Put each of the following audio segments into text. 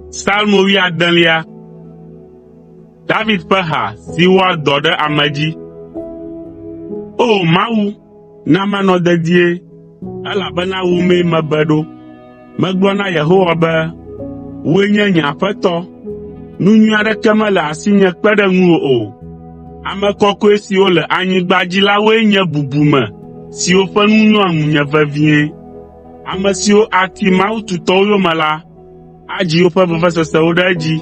Salmo wuiadelia. David ƒe ha si wɔa dɔ ɖe ame dzi. O Mawu, na manɔ dedie, elabena wò mee mebe ɖo. Megblɔ na Yehowa be, “Wòe nye nye Aƒetɔ, nu nyui aɖeke mele asinye kpe ɖe ŋuwò o. Ame kɔkɔe siwo le anyigba dzi la woe nye bubume siwo ƒe nu nyoa ŋunye vevie. Ame siwo ati mawu tutɔwo yome la, adzi woƒe vevesesewo ɖe edzi.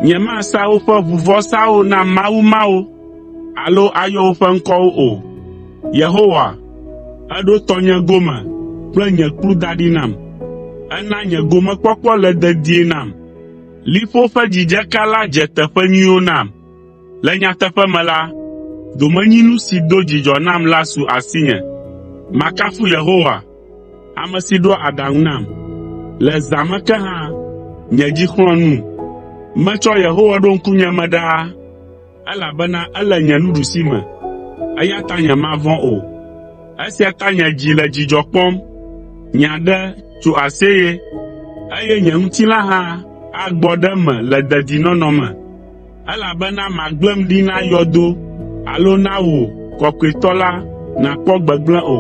Nyemasa woƒe ʋuvɔsawo na mawu mawo alo ayɔ woƒe ŋkɔwo o. Eɖo tɔnye gome kple nye kplu da ɖi nam. Ena nye gomekpɔkpɔ le dedie nam. Liƒo ƒe dzidzeka la dze teƒe nyuiwo nam. Le nyateƒe me la, domenyinu si do dzidzɔ nam la su asinye. Makafu Yehowa, ame si ɖoa aɖaŋu nam. Le zã me ke hã, nye dzi xlɔ̃a num. Metsɔ Yehowa ɖo ŋkunye me ɖaa. Elabena ele nye nuɖusime, eya ta nyemavɔ̃ o. Esia ta nye dzi le dzidzɔ kpɔm, nye aɖe tso aseye, eye nye ŋutilã hã agbɔ ɖe eme le dedinɔnɔ me. Elabena màgblẽm ɖi na yɔdo alo na wò Kɔkɔetɔ la nàkpɔ gbegblẽ o.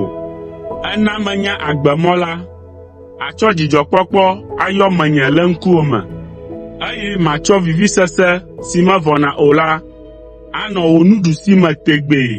Èna menya agbemɔ la, Àtsɔ dzidzɔkpɔkpɔ ayɔ menye le ŋkuwò me, eye matsɔ vivisese si mevɔna o la anɔ wò nuɖusime tegbee.”